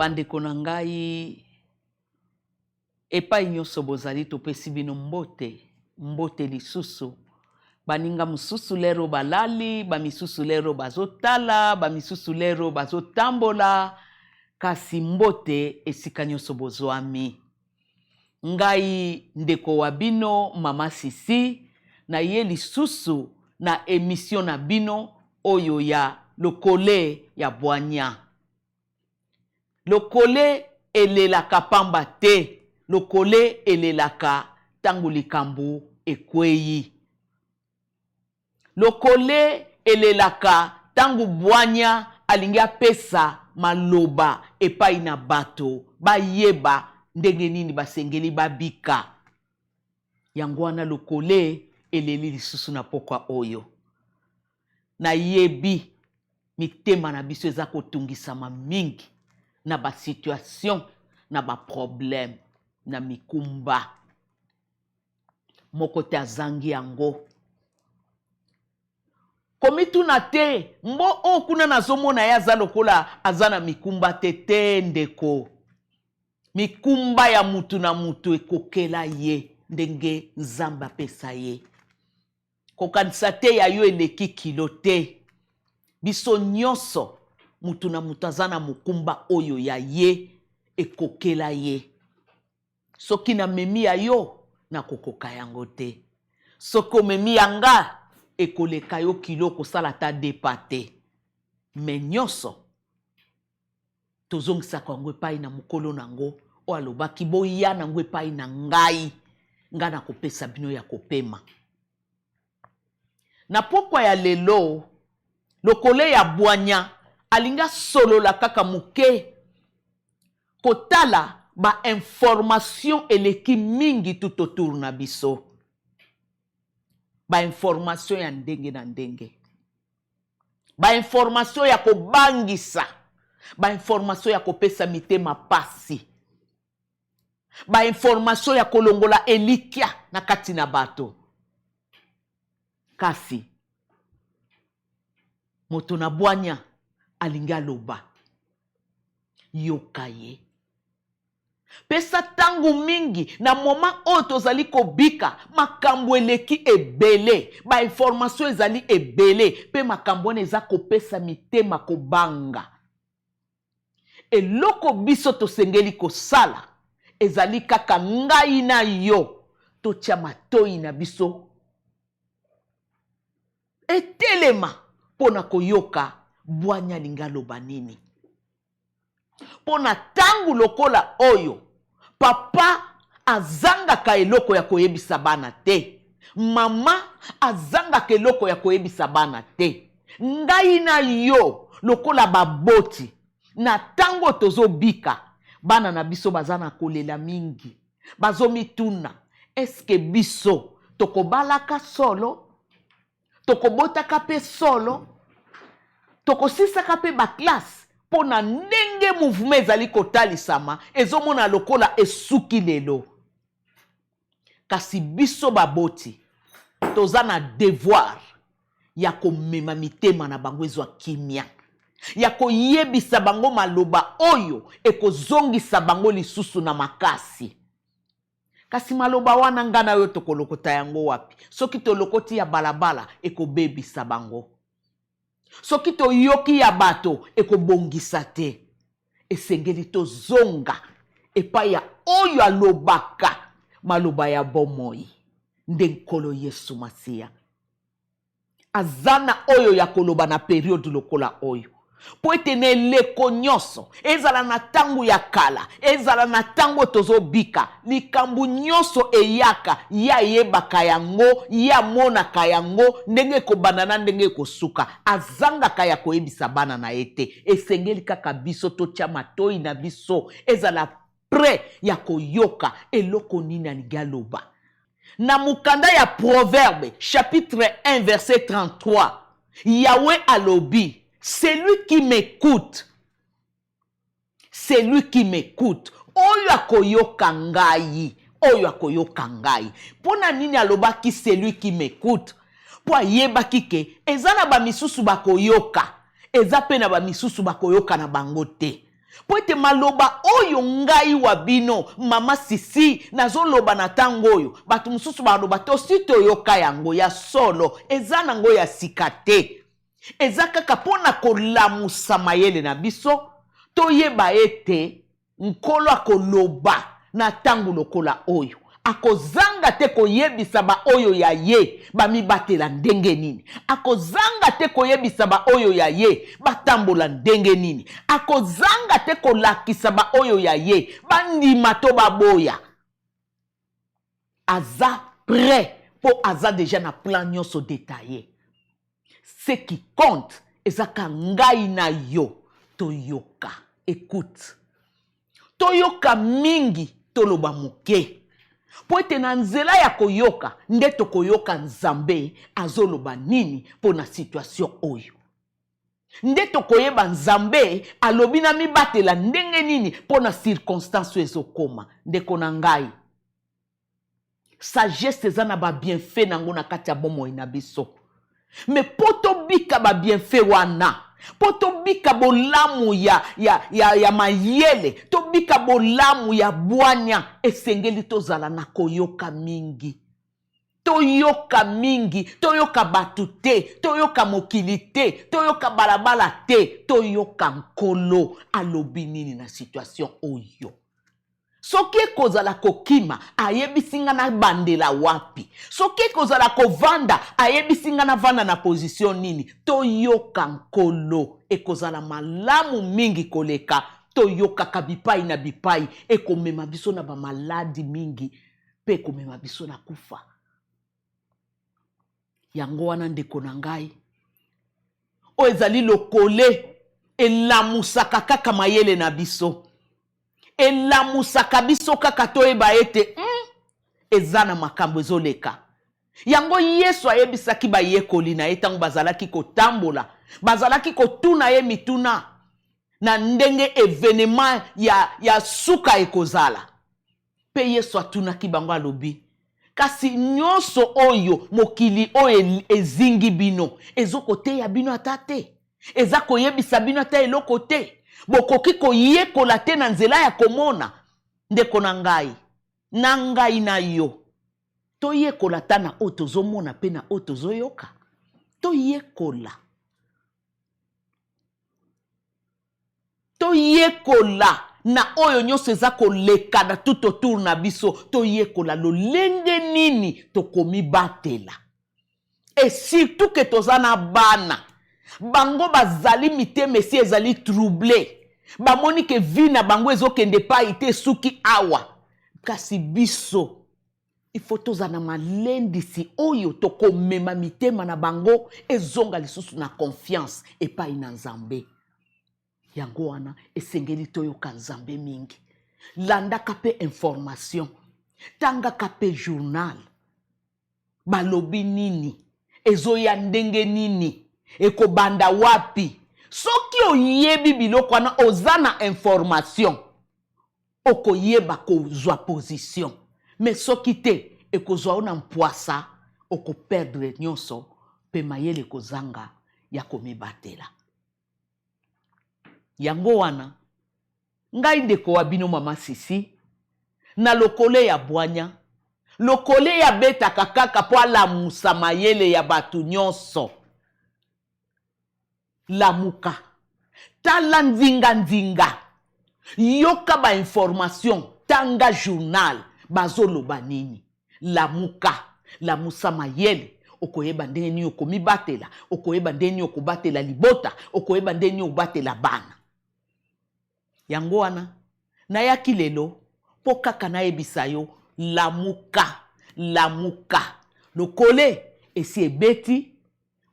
bandeko na ngai epai nyonso bozali topesi bino mbote mbote lisusu baninga mosusu lero balali bamisusu lero bazotala bamisusu lero bazotambola kasi mbote esika nyonso bozwami ngai ndeko wa bino mama sisi na ye lisusu na emisio na bino oyo ya lokole ya bwanya Lokole elelaka pamba te, lokole elelaka tango likambo ekweyi. Lokole elelaka tango bwanya alingi apesa maloba epai na bato bayeba ndenge nini basengeli babika. Yango wana lokole eleli lisusu na pokwa oyo. Nayebi mitema na biso eza kotungisama mingi na ba situation, na ba problème, na mikumba. Moko te azangi yango. Komituna te mbo oyo oh, kuna nazomona ye aza lokola aza na mikumba te te ndeko. Mikumba ya mutu na mutu ekokela ye ndenge Nzambe apesa ye. Kokanisa te ya yo eleki kilo te. Biso nyonso, moto na moto aza na mokumba oyo ya ye ekokela ye. Soki namemi ya yo, nakokoka yango te. Soki omemi ya nga, ekoleka yo kilo, okosala ata deux pas te. Mais nyonso. tozongisaka yango epai na mokolo na yango oyo alobaki boya na yango epai na ngai ngai nakopesa bino ya kopema na pokwa ya lelo lokole ya bwanya alingi asolola kaka moke kotala bainformation eleki mingi tout autour na biso bainformation ya ndenge na ndenge bainformation ya kobangisa bainformation ya kopesa mitema pasi bainformation ya kolongola elikya na kati na bato kasi moto na bwanya alingi aloba yoka ye Pesa ntango mingi na moma oyo tozali kobika. Makambo eleki ebele, bainformasio ezali ebele, mpe makambo wana eza kopesa mitema kobanga. Eloko biso tosengeli kosala ezali kaka ngai na yo totya matoi na biso etelema mpo na koyoka bwanya alingi aloba nini. mpo na ntango lokola oyo papa azangaka eloko ya koyebisa bana te mama azangaka eloko ya koyebisa bana te ngai na yo lokola baboti na ntango tozobika bana na biso baza na kolela mingi bazomituna eske biso tokobalaka solo tokobotaka mpe solo tokosisaka mpe baklasse mpo na ndenge mouvema ezali kotalisama ezomona lokola esuki lelo kasi biso baboti toza na devoir ya komema mitema na bango ezwa kimia ya koyebisa bango maloba oyo ekozongisa bango lisusu na makasi Kasi maloba wana nga na yo tokolokota yango wapi? Soki tolokoti ya balabala ekobebisa bango. Soki toyoki ya bato ekobongisa te. Esengeli tozonga epai ya oyo alobaka maloba ya bomoi nde Nkolo Yesu Masiya. Aza na oyo ya koloba na periode lokola oyo. Mpo ete na eleko nyonso, ezala na tango ya kala, ezala na tango oyo tozobika, likambo nyonso eyaka, ye ayebaka yango, ye amonaka yango, ndenge ekobanda na ndenge ekosuka. Azangaka ya koyebisa bana na ye te. Esengeli kaka biso totia matoyi na biso, ezala pre ya koyoka eloko nini alingi aloba. Na mokanda ya Proverbe, chapitre 1, verset 33, Yahweh alobi, celui qui m'ecoute, celui qui m'ecoute, oyo akoyoka ngai, oyo akoyoka ngai. Mpo na nini alobaki celui qui m'ecoute? Mpo ayebaki ke eza na bamisusu bakoyoka, eza mpe na bamisusu bakoyoka na bango te. mpo ete maloba oyo ngai wa bino mama sisi nazoloba na ntango oyo bato mosusu baloba tosi toyoka yango ya solo eza nango ya sika te eza kaka mpo na kolamusa mayele na biso toyeba ete nkolo akoloba na ntango lokola oyo akozanga te koyebisa baoyo ya ye bamibatela ndenge nini akozanga te koyebisa baoyo ya ye batambola ndenge nini akozanga te kolakisa baoyo ya ye bandima to baboya aza prêt mpo aza deja na plan nyonso detaille Ce qui compte eza ka ngai na yo toyoka. Ecoute. Toyoka mingi, toloba moke. Mpo ete na nzela ya koyoka nde tokoyoka Nzambe azoloba nini mpo na situation oyo. Nde tokoyeba Nzambe alobi na mibatela ndenge nini mpo na circonstance oyo ezokoma. Ndeko na ngai. sagesse eza na ba bienfait na yango na kati ya bomoi na biso me mpo tobika ba bienfait wana mpo tobika bolamu ya, ya, ya, ya mayele tobika bolamu ya bwanya esengeli tozala na koyoka mingi toyoka mingi toyoka bato te toyoka mokili te toyoka balabala te toyoka nkolo alobi nini na situation oyo soki ekozala kokima ayebisi nga na bandela wapi soki ekozala kovanda ayebisi nga na vanda na pozisio nini toyoka nkolo ekozala malamu mingi koleka toyokaka bipai na bipai ekomema biso na bamaladi mingi mpe ekomema biso na kufa yango wana ndeko na ngai oyo ezali lokole elamusaka kaka mayele na biso elamusaka biso kaka toyeba ete mm, eza na makambo ezoleka yango yesu ayebisaki bayekoli na ye ntango bazalaki kotambola bazalaki kotuna ye mituna na ndenge evenema ya, ya suka ekozala Mpe Yesu atunaki bango, alobi, Kasi nyonso oyo mokili oyo ezingi bino ezo koteya bino ata te, eza koyebisa bino ata eloko te, bokoki koyekola te na nzela ya komona. Ndeko na ngai, na ngai na yo toyekola ata na oyo tozomona mpe na oyo tozoyoka, toyekola. Toyekola na oyo nyonso eza koleka na tout autour na biso, toyekola lolenge nini tokomibatela et surtout que toza na bana bango bazali mitema esi ezali trouble, bamoni que vie na bango ezokende epayi te esuki awa kasi biso il faut tozala na malendisi oyo tokomema mitema na bango ezonga lisusu na confiance epai na nzambe yango wana esengeli toyoka nzambe mingi landaka mpe information tangaka mpe journal balobi nini ezoya ndenge nini ekobanda wapi soki oyebi biloko wana oza na information Okoyeba kozwa position mais soki te ekozwa yo na mpwasa oko perdre nionso mpe mayele ekozanga ya komibatela. Yango wana ngai ndeko wa bino mama Sisi na lokole ya bwanya, lokole ye abetaka kaka mpo alamusa mayele ya bato nionso. lamuka tala nzinga nzinga yoka ba information tanga journal bazoloba nini lamuka lamusa mayele okoyeba ndenge nini okomibatela okoyeba ndenge nini okobatela libota okoyeba ndenge nini obatela bana yango wana nayaki lelo mpo kaka nayebisa yo lamuka lamuka lokole esi ebeti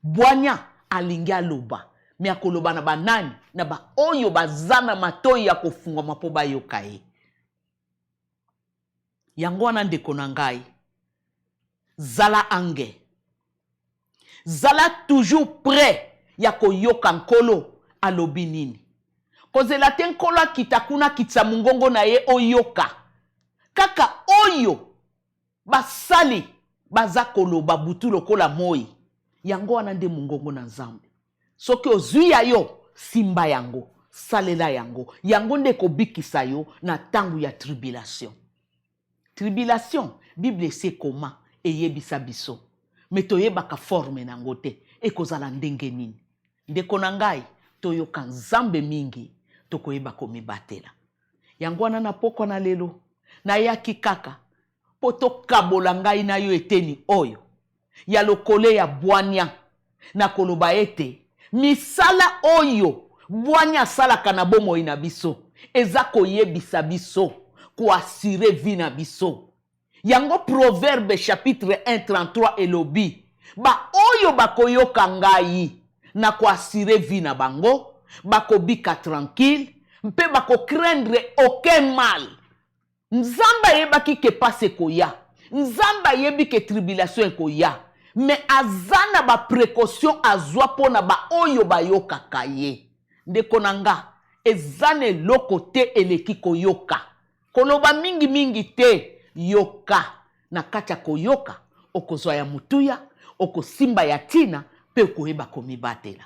bwanya alingi aloba me akoloba na banani na baoyo baza na matoi ya kofungwama mpo bayoka ye Yango wana ndeko na ngai, zala ange, zala toujours près ya koyoka Nkolo alobi nini. Kozela te Nkolo akita kuna akitisa mongongo na ye oyoka kaka oyo basali baza koloba butu lokola moi. Yango wana nde mongongo na Nzambe. Soki ozwi ya yo, simba yango, salela yango. Yango nde ekobikisa yo na ntango ya tribilasio. Tribilasio, Biblia esi ekoma, eyebisa biso, me toyebaka forme na yango te. Ekozala ndenge nini? Ndeko na ngai, toyoka Nzambe mingi, tokoyeba komibatela. Yango wana na pokwa na lelo, nayaki kaka mpo tokabola ngai na yo eteni oyo. ya lokole ya bwanya na koloba ete misala oyo bwanya asalaka na bomoi na biso eza koyebisa biso koasire vi na biso. Yango Proverbe chapitre 1 33 elobi baoyo bakoyoka ngai na koasire vi na bango bakobika tranquille mpe bakocraindre aucun mal. Nzambe ayebaki ke pasi ekoya. Nzambe ayebi ke tribulation ekoya. Mais aza na ba precautions azua pona ba oyo bayokaka ye. Ndeko na nga, eza na eloko te eleki koyoka. Koloba mingi mingi te, yoka. Na kati ya koyoka, okozua ya motuya, okosimba ya tina, pe okoyeba komibatela.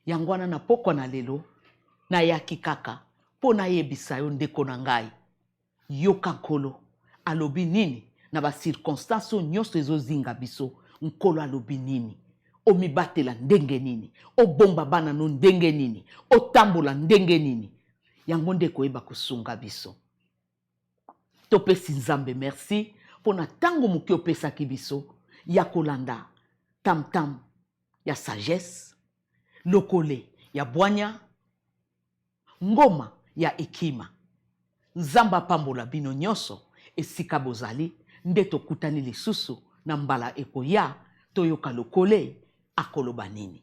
Yango wana na pokwa na lelo, nayaki kaka mpo nayebisa yo, ndeko na ngai, yoka Nkolo alobi nini na ba circonstances oyo nyonso ezozinga biso. Nkolo alobi nini? Omibatela ndenge nini? Obomba bana no ndenge nini? Otambola ndenge nini? Yango nde ekoyeba kosunga biso. Topesi Nzambe merci mpo na ntango moke opesaki biso ya kolanda tamtam ya sagesse, lokole ya bwanya, ngoma ya ekima. Nzambe apambola bino nyonso esika bozali, nde tokutani lisusu na mbala ekoya, toyoka lokole akoloba nini.